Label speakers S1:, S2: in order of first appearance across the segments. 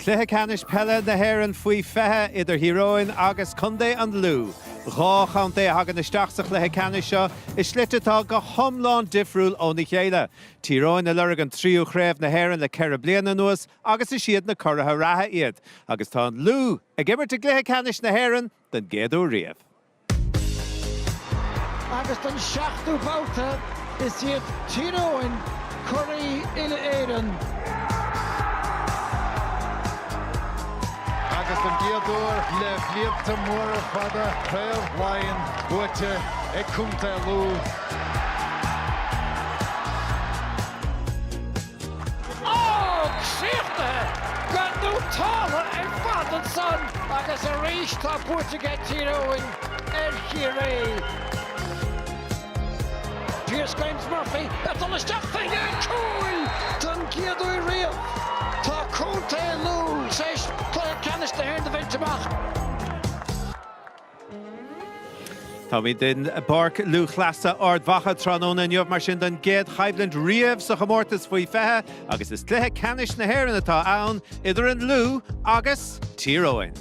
S1: Cluiche Ceannais Peile na hÉireann Faoi 20 idir Thír Eoghain agus Contae an Lú, dhá chontae a thagann isteach sa chluiche ceannais seo i slite atá go hiomlán difriúil óna chéile. Tír Eoghain ag lorg an tríú chraobh na hÉireann le ceithre bliana anuas agus is iad na curaithe reatha iad. agus tá an Lú ag imirt i gcluiche ceannais na hÉireann don gcéad uair
S2: riamh. Agus don seachtú babhta, is iad Tír Eoghain curaidh uile-Éireann.
S3: Agus don gcéad uair le blianta móra fada, Craobh Laighean buaite ag Contae Lú.
S2: Á, críochnaithe gan dún togha ar fad ansan agus arís tá buaite aige Tír Eoghain ar Chiarraí. Pearse Grimes Murphy ag dul isteach fé dhéin cúil don gcéad uair riamh. Tá contae Lú tar éis cluiche ceannais na hÉireann a bhaint amach.
S1: Táimid i bPáirc Lúthchleasa Ard Mhacha tráthnóna inniu mar sin don gcéad choimhlint riamh sa chomórtas faoi 20 agus is cluiche ceannais na hÉireann atá ann idir an Lú agus Tír Eoghain.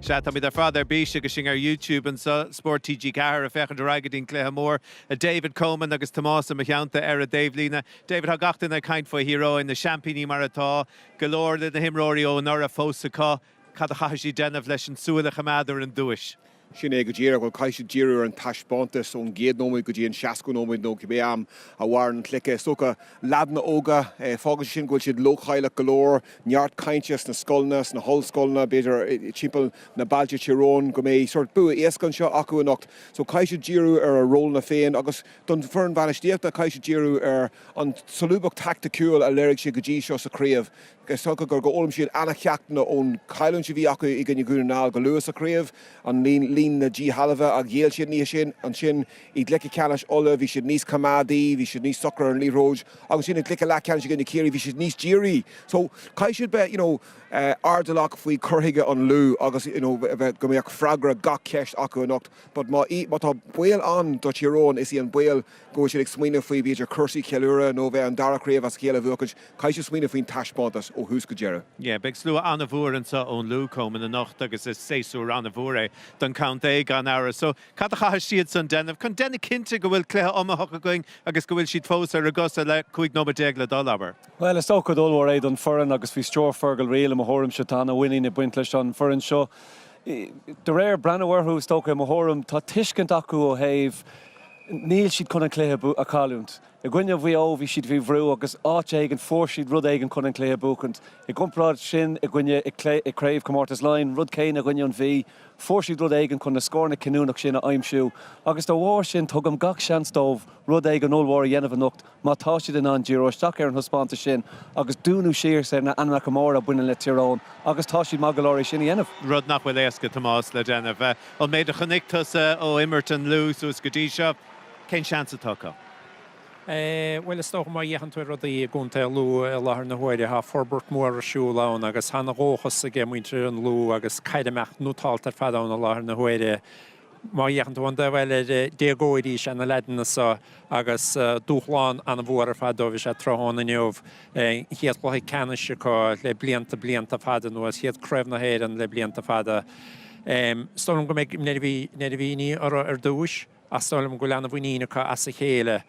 S1: Sea, táimid ar fad ar bís agus sinn ar YouTube anseo, Spórt TG4, ag féachaint ar aghaidh go dtí an cluiche mór. David Coman agus Tomás i mo theannta ar an dtaobhlíne. David, tá gach duine ag caint faoi Thír Eoghain, na seaimpíní mar atá, go leor de na himreoirí ó anuraidh fós acu. Cad a chaithfidh siad déanamh leis an tsúil a choimeád ar an duais? Sin é go díreach.
S4: Bhuel, caithfidh siad díriú ar an taispeántas, ón gcéad nóiméad go dtí an seascadú nóiméad, nó cibé am a mhaireann an cluiche. Is dócha, leaideanna óga, fágann sé sin go bhfuil siad leochaileach go leor, neart cainte sna scoileanna, sna hollscoileanna, b'fhéidir, timpeall na bailte Tír Eoghain, go mbeidh sórt bua éasca anseo acu anocht. So, caithfidh siad díriú ar a rólanna féin, agus don foireann bhainistíochta, caithfidh siad díriú ar an tsolúbacht thaicticiúil a léirigh siad go dtí seo sa chraobh. Is dócha gur, gur fhoghlaim siad an-cheachtanna ón chailliúint a bhí acu i gcoinne Dhún na nGall go luath sa chraobh, an líon na díshealbha a ghéill siad an oíche sin. Ansin i gcluiche ceannais Uladh bhí siad níos coimeádaí, bhí siad níos socra ar an liathróid. Agus ansin i gcluiche leathcheannais i gcoinne Chiarraí bhí siad níos dírí. So caithfidh siad bheith you know airdeallach faoi chur chuige an Lú agus you know go mbeadh freagra gach ceist acu anocht but má tá baol ann do Tír Eoghain is í an baol go bhfuil siad ag smaoineamh faoi, b'fhéidir, cúrsaí ceiliúradh nó bheith an dara craobh as a chéile a bhuachaint, caithfidh siad smaoineamh faoin taispeántas ó thús go deireadh. Yeah, beidh slua
S1: an-mhór anso ón Lú, Coman, anocht agus is séasúr an-mhór é don chontae, gan amhras. So, cad a chaithfidh siadsan déanamh chun déanamh cinnte go bhfuil cluiche iomaitheach againn agus go bhfuil siad fós ar a gcosa le 15 nóiméad le dul, abair? Bhuel, is ócáid ollmhór
S5: é don foireann agus faoi stiúir Fergal Reel, i mo thuairimse, tá an-mhuinín ag baint leis an foireann seo. De réir, breathnú orthu, is dócha, i mo thuairim, tá tuiscint acu ó thaobh, níl siad chun an cluiche a chailliúint. I gcoinne Mhaigh Eo, bhí siad faoi bhrú agus áit éigin fuair siad rud éigin chun an cluiche a bhuachaint. I gcomparáid sin, i gcoinne, i Craobhchomórtas Laighean, rud céanna i gcoinne an Mhí, fuair siad rud éigin chun na scóranna cinniúnach sin a aimsiú agus dá bharr sin tugaim gach seans dóibh rud éigin ollmhór a dhéanamh anocht. Má tá siad in ann díriú isteach ar an thaispeántas sin agus dúnadh síos ar na ainmneacha móra a bhaineann le Tír Eoghain, agus tá siad maith go leor é sin a dhéanamh. Rud nach bhfuil éasca,
S1: Tomás, le déanamh. An méid a chonaic tusa ó imirt an Lú suas go dtí seo, cén seans atá
S6: acu? Bhuel, is dócha má fhéachann tú rudaí i gcontae Lú i láthair na huaire, tá forbairt mór ar siúl ann agus tá ana-dhóchas aige muintir an Lú agus caid ag imeacht nótáilte ar fad ann i láthair na huaire. Má fhéachann tú ar an dtaobh eile, déagóirí is ea na leaideanna so, agus dúshlán an-mhór ar fad dóibh is ea tráthnóna inniu, an chéad chluiche ceannais acu le blianta, blianta fada anuas, chéad Craobh na hÉireann le blianta fada. Is dóigh liom go mbeidh neirbhíní orthu ar dtúis, ach is dóigh liom go bhfuil an-mhuinín acu as a chéile.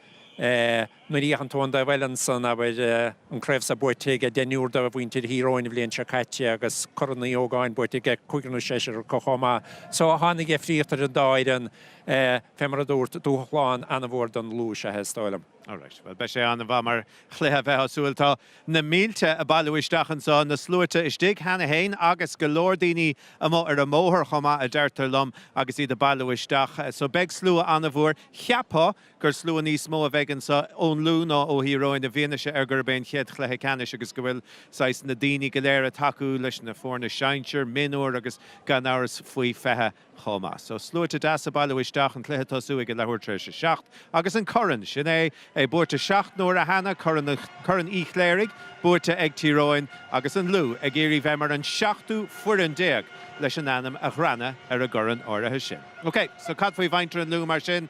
S6: Nuair a fhéachann tú ar an dtaobh eile ansan, abair, an craobh seo buaite ag deichniúr de mhuintir Thír Eoghain an bhliain seo caite agus Corn Uí Ógáin buaite ag cúigear nó seisear acu chomh maith. So, tá ana-dheifríocht idir an dá fhoireann, fé mar a dúrt, dúshlán ana-mhór don Lú is ea é, is dóigh liom. Alright, bhuel, beidh
S1: sé an-mhaith mar chluiche bheifeá ag súil. Tá na mílte ag bailiú isteach anso, na sluaite istigh cheana féin agus go leor daoine amuigh ar an mbóthar chomh maith, a deirtear liom, agus iad ag bailiú isteach. So, beidh slua ana-mhór, cheapfá, gur slua níos mó a bheidh anso ón Lú ná ó Thír Eoghain i bhfianaise ar gurb é an chéad chluiche ceannais agus go bhfuil, saghas, na daoine go léir ag tacú leis na foirne sinsir, mionúir agus, gan amhras, faoi 20 chomh maith. So, sluaite deasa ag bailiú isteach, an cluiche tosú ag a leathuair tar éis a seacht agus an Corn, sin é, é buaite seacht n-uaire cheana, Corn an, Corn Uí Chléirigh, buaite ag Tír Eoghain agus an Lú ag iarraidh bheith mar an seachtú foireann déag leis an ainm a ghreanadh ar an gCorn áirithe sin. OK, so cad faoi mhuintir an Lú mar sin?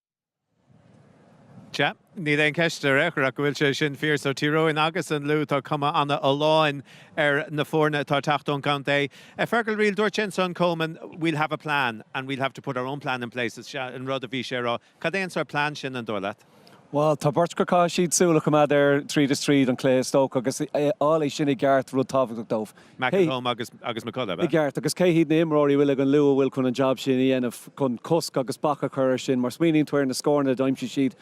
S1: Sea, níl aon cheist ar aon chor ach go bhfuil sé sin fíor. So, Tír Eoghain agus an Lú, tá cuma an-fholláin ar na foirne atá ag teacht ón gcontae. Fergal Reel, dúirt sé ansan, Coman, we'll have a plan and we'll have to put our own plan in place, is ea an rud a bhí sé a rá. Cad é an sórt plean sin, an dóigh leat? Bhuel, tá beirt
S5: go caithfidh siad súil a choimeád air tríd is tríd, an cluiche is dócha, agus fháil é sin i gceart, rud tábhachtach dóibh. McElholm
S1: agus agus McCullagh. I gceart, agus cé hiad
S5: na h-imreoirí a bhfuil ag an Lú a bhfuil chun an jab sin a dhéanamh chun cosc agus bac a chur ar sin? Mar smaoiníonn tú ar na scóranna a d'aimsigh siad,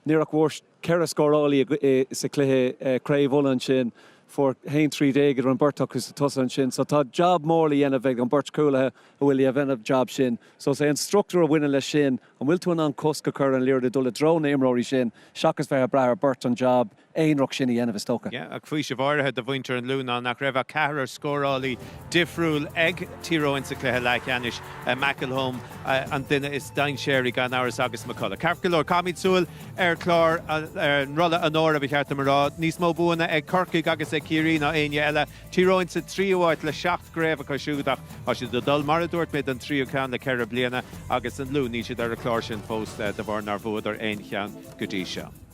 S5: níor ach bhfuair ceithre scórálaí sa chluiche Craobh Uladh ansin, fuair a haon trí déag an beirt acu sa tosaigh ansin. So tá jab mór le dhéanamh ag an beirt chúlaithe a bhfuil a dhéanamh an jab sin. So is é an structúr a bhaineann leis sin, an bhfuil tú in ann cosc a chur an liathróid a dul i dtreo na h-imreoirí sin seachas bheith a' brath ar beirt an jab aonarach sin a dhéanamh, is dócha. Ach faoiseamh áirithe
S1: do mhuintir an Lú ná nach raibh ach ceathrar scórálaí difriúil ag Tír Eoghain sa chluiche leathcheannais, McElholm an duine is dainséaraí gan amhras agus McCullagh. Ceart go leor, caithfimid súil ar chlár ar an Rolla Onóra, ba cheart dom a rá. Níos mó buanna ag Corcaigh agus ag Ciarraí ná éinne eile. Tír Eoghain sa tríú háit le seacht gcraobh acu siúd ach tá siad ag dul, mar a dúirt mé, don tríú ceann le ceithre bliana agus an Lú, níl siad ar an chlár sin fós de bharr nár bhuadar aon cheann go dtí seo.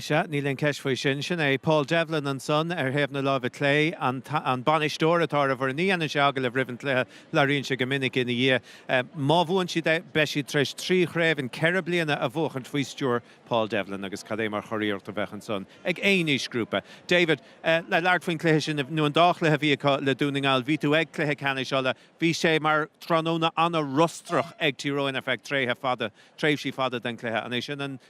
S1: Sea, níl aon cheist faoi sin. Sin é Paul Devlin ansan, ar thaobh na láimhe clé, an bainisteoir atá ar an bhfoireann. Ní dhéanann sé agallaimh roimh an chluiche, labhraíonn sé go minic ina dhiaidh. Má bhuann siad é, beidh siad tar éis trí chraobh in ceithre bliana a bhuachaint faoi stiúir Paul Devlin agus cad é mar churiarracht a bheadh ansan ag aon aoisghrúpa. David, le labhairt faoin chluiche sin, nó an dá chluiche a bhí acu le Dún na nGall, bhí tú ag Cluiche Ceannais Uladh, bhí sé mar tráthnóna an-fhrustrach ag Tír Eoghain ar feadh tréithe fada, tréimhsí fada den chluiche. An é sin an.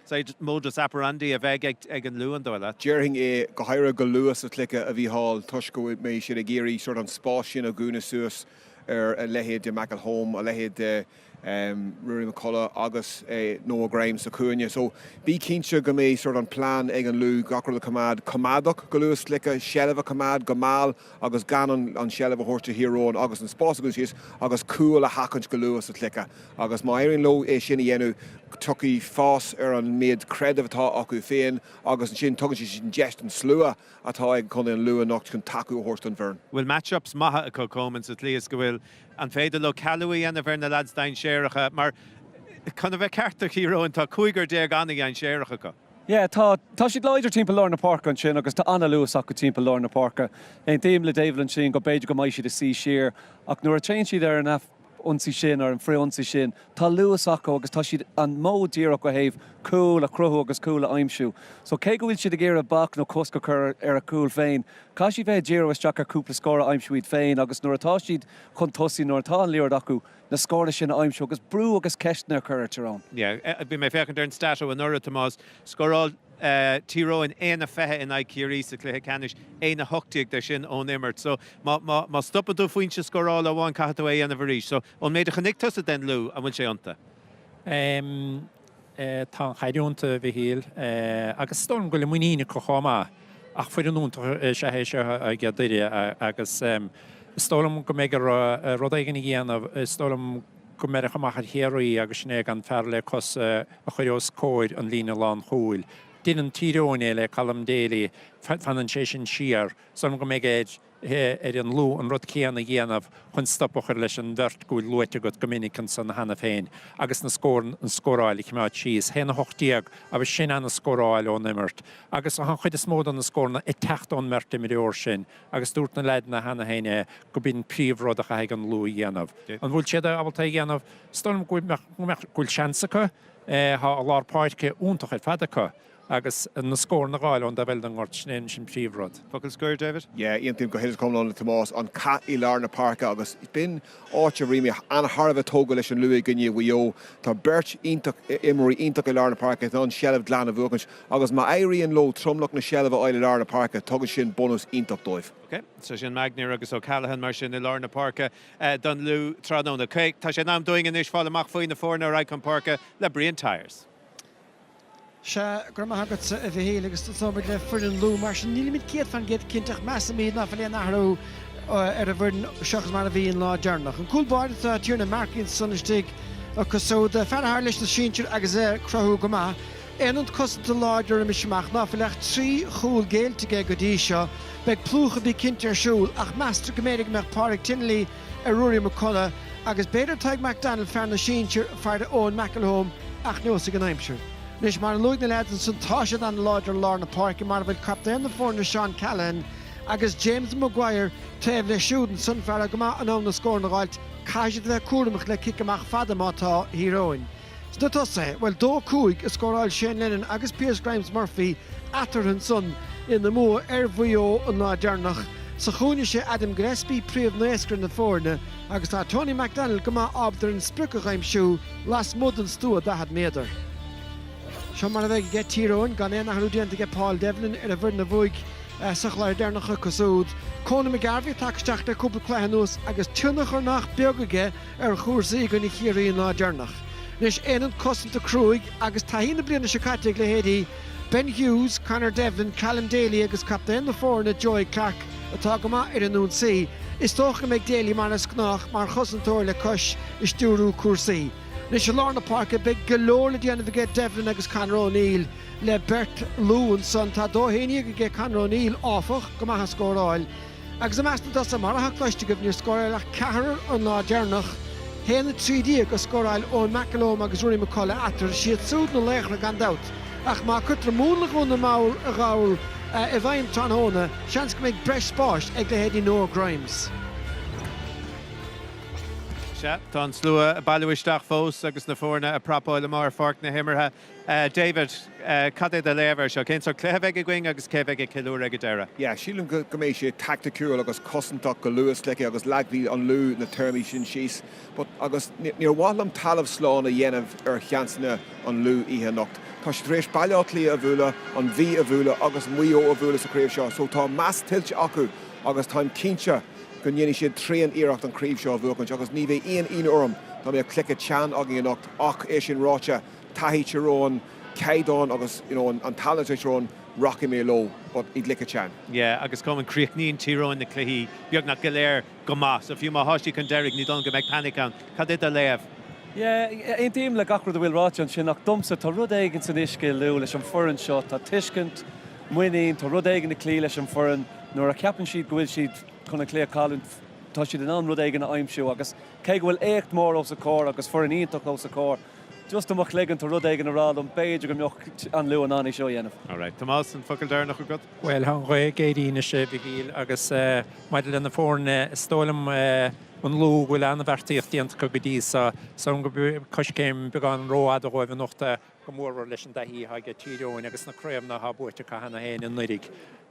S1: modus operandi a bheidh ag an Lú, an dóigh leat. Déarfainn é, go
S4: háirithe go luath sa chluiche a Mhícheáil, toisc go mbeidh siad ag iarraidh sórt an spás sin a dhúnadh suas ar a leithéid de McElholm, a leithéid de Ruairí McCullagh agus Noah Grimes sa chúinne. So bí cinnte go mbeidh sórt an plean ag an Lú gach rud a choimeád coimeádach go luath sa chluiche, seilbh a choimeád go mall agus gan an seilbh a thabhairt do Thír Eoghain agus an spás a dhúnadh síos agus cúil a sheachaint go luath sa chluiche agus má éiríonn leo é sin a dhéanamh tiocfaidh fás ar an méid creideamh atá acu féin agus ansin tugann siad an deis don slua atá ag Contae an Lú anocht chun tacú a thabhairt don bhfoireann. bhfuil match-ups
S1: maithe acu Comán sa tslí is go bhfuil An féidir leo cealú a dhéanamh ar na lads dainséaracha? Mar, chun a bheith ceart do Thír Eoghain, tá cúigear déag an-dhainséarach acu. Yeah, tá.
S5: Tá siad láidir timpeall lár na páirce ansin agus tá an-luas acu timpeall lár na páirce. Aontaím le David ansin go b'fhéidir go mbeidh siad ag suí siar ach nuair a téann siad ar an ionsaí sin, ar an frith-ionsaí sin, tá luas acu agus tá siad an modh díreach ó thaobh cúl a chruthú agus cúl a aimsiú. So cé go bhfuil siad ag iarraidh bac nó cosc a chur ar a gcúl féin, caithfidh siad bheith ag díriú isteach ar chúpla scór a aimsiú iad féin agus nuair atá siad chun tosaigh, nuair atá an liathróid acu, na scórtha sin a aimsiú agus brú agus ceisteanna a chur ar Tyrone. Yeah, bhí mé ag féachaint
S1: ar an stat ó anuraidh, Tomás. Scóráil Tír Eoghain aon a fiche in aghaidh Chiarraí sa chluiche ceannais, aon a hocht déag de sin ón imirt. So, má, má, má stopann tú foinse scórála amháin caithfidh tú é a dhéanamh arís. So, ón méid a chonaic tusa den Lú, an bhfuil sé iontu?
S6: Tá an-chailliúint, a Mhichíl, agus is dóigh liom go bhfuil muinín acu chomh maith ach foireann iontach is ea é seo age Tír Eoghain agus is dóigh liom go mbeidh orthu rud éigin a dhéanamh. Is dóigh liom go mbeidh, fuaireadar amach ar Chiarraí agus sin é gan fear le cois a chur os comhair an líne lán chúil. Deineann Tír Eoghain é le Callum Daly, fanann sé sin siar. Is dóigh liom go mbeidh air. ar an Lú an rud céanna a dhéanamh chun stop a chur leis an bheirt go bhfuil luaite agat go minic ansan cheana féin agus na scóranna, an scóráil a chimeád síos, 'haon a hocht déag', agus sin ana scóráil ón imirt. Agus tá an chuid is mó do na scóranna ag teacht ón mbeirt imreoir sin agus dúirt na leaideanna cheana féin é gurb in príomh rud a chaithfidh an Lú a dhéanamh. An bhfuil siad ábalta é a dhéanamh? Is dóigh liom go bhfuil seans acu. Tá lár páirce iontach ar fad acu. Agus na scóranna a dh'fháil ón dá, bhuel, ón ngort, sin é an príomhrud. Focal scoir,
S1: David? Yeah, aontaím go huile is
S4: go hiomlán le Tomás. An cath i lár na páirce agus b'in áit a raibh mé an-thar a bheith tógtha leis an Lú i gcoinne Mhaigh Eo. Tá beirt iontach, imreoirí iontacha i lár na páirce atá in ann seilbh glan a bhuachaint agus má éiríonn leo tromlach na seilbhe a fháil i lár na páirce, tugann sin bunús iontach dóibh. Ok, so
S1: sin Maguire agus Callaghan mar sin i lár na páirce don Lú tráthnóna. Ok, tá sé in am dúinn anois fáil amach faoi na foirne ar aghaidh chun páirce le Brian Tyers.
S2: Sea, go raibh maith agatsa, a Mhichíl, agus tosóimid le foireann Lú. Mar sin, nílimid céad fan gcéad cinnte, ach measaimid ná fuil aon athrú ar an bhfoireann seachas mar a bhí an lá deireanach. An cúl báire, tá Tiernan Markey ansan istigh acu siúd, fear atá leis na sinsir agus é ag cruthú go maith. Aonad cosanta láidir arís amach ná fuil ach trí chúl géillte aige go dtí seo. Beidh plúchadh bí cinnte ar siúl, ach meastar go mb'fhéidir go mbeadh Pádraic Tinnelly, ar Ruairí McCullagh agus b'fhéidir Tadhg McDonnell, fear na sinsear, ag faire ar Eoin McElholm ach neosfaidh an aimsir. Anois, mar a luaigh na leaids ansan, tá siad an-láidir i lár na páirce, mar a bhfuil captaen na foirne Seán Callaghan agus James Maguire taobh leis siúd ansan, fear atá go maith in ann na scóranna a dh'fháilt, caithfidh siad a bheith cúramach le ciceanna amach fada atá ag Thír Eoghain. Sna tosaithe, bhuel, dó cúig a scóráil Shane Lennon agus Pearse Grimes Murphy eatarthu san ina mbua ar Mhaigh Eo an lá deireanach. Sa chúinne sé Adam Gillespie príomhnascaire na foirne agus tá Tony McDonald go maith ábalta an sprioc a aimsiú lasmuigh den stua 40 méadar. Seo mar a bheidh aige Tír Eoghain, gan aon athrú déanta aige Paul Devlin ar an bhfoireann a bhuaigh sa chluiche deireanach acu siúd, Conall McGarvey tagtha isteach le cúpla cluiche anuas agus tionchar nach beag aige ar chúrsaí i gcoinne Chiarraí an lá deireanach. Anois, aonad cosanta cruaidh agus taithí na bliana seo caite ag leithéidí Ben Hughes, Conor Devlin, Callum Daly agus captaen na foirne Joey Clarke atá go maith ar an ionsaí, is dócha go mbeidh Daly mar is gnách mar chosantóir le cois i stiúrú cúrsaí. Anois, i lár na páirce, beidh go leor le déanamh aige Devlin agus Conor O'Neill le beirt Lú ansan. Tá dó haon déag aige Conor O'Neill, áfach, go maith ag scóráil. Agus i measc na dtosaithe, mar atá cloiste agaibh, níor scóráil ach ceathrar an lá deireanach. A haon 13 a scóráil Eoin McElholm agus Ruairí McCullagh eatarthu. 'Siad súd na laochra gan dabht. Ach má cuirtear múnla Dhún na nGall i bhfeidhm tráthnóna, seans go mbeidh breis spáis ag leithéidí Noah
S1: Grimes. Sea, tá an slua ag bailiú isteach fós agus na foirne ag prapáil amuigh ar pháirc na himeartha. David, cad é do léamh air seo? Cén sort cluiche a bheidh againn agus cé a bheidh ag ceiliúradh ag an deireadh? Yeah, sílim go
S4: mbeidh sé taicticiúil agus cosantach go luath sa chluiche agus leagfaidh an Lú na téarmaí sin síos but agus níor mhaith liom talamh slán a dhéanamh ar sheansanna an Lú oíche anocht. Tá siad tar éis Baile Átha Cliath a bhualadh, an Mhí a bhualadh agus Maigh Eo a bhualadh sa chraobh seo so tá meas tuillte acu agus táim cinnte go ndéanfaidh siad tréan iarracht an craobh seo a bhuachaint agus ní bheidh aon ionadh orm dá mbeadh cluiche teann againn anocht. Ach é sin ráite, taithí Tír Eoghain, caighdeán agus you know an tallann Tír Eoghain, rachaidh mé leo but i gcluiche teann. Yeah, agus Coman,
S1: críochnaíonn Tír Eoghain na cluichí beagnach go léir go maith, so fiú má thá siad chun deiridh, ní dóigh liom go mbeidh panic ann. Cad é do léamh?
S5: Yeah, aontaím le gach rud a bhfuil ráite ansin ach domsa, tá rud éigin san uisce i Lú leis an foireann seo, tá tuiscint, muinín, tá rud éigin ag cloí leis an foireann, nuair a cheapann siad go bhfuil siad chun an cluiche a chailliúint, tá siad in ann rud éigin a aimsiú agus, Cé go bhfuil éacht mór os a comhair agus foireann iontach os a comhair, just i mo chloigeann tá rud éigin ag rá liom b'fhéidir go mbeadh an Lú in ann é seo a dhéanamh. Alright, Tomás, an focal
S1: deireanach agat? Bhuel, tá an ghaoth ag
S6: éirí anois, a Mhichíl, agus maidir le na foirne, is dóigh liom an Lú go bhfuil an-bheartaíocht déanta acu go dtí seo, so gur coiscéim beagán rófhada dhóibh anocht é, go mórmhór leis an dtaithí atá ag Tír Eoghain agus na craobhanna atá buaite acu cheana féin i nDoire.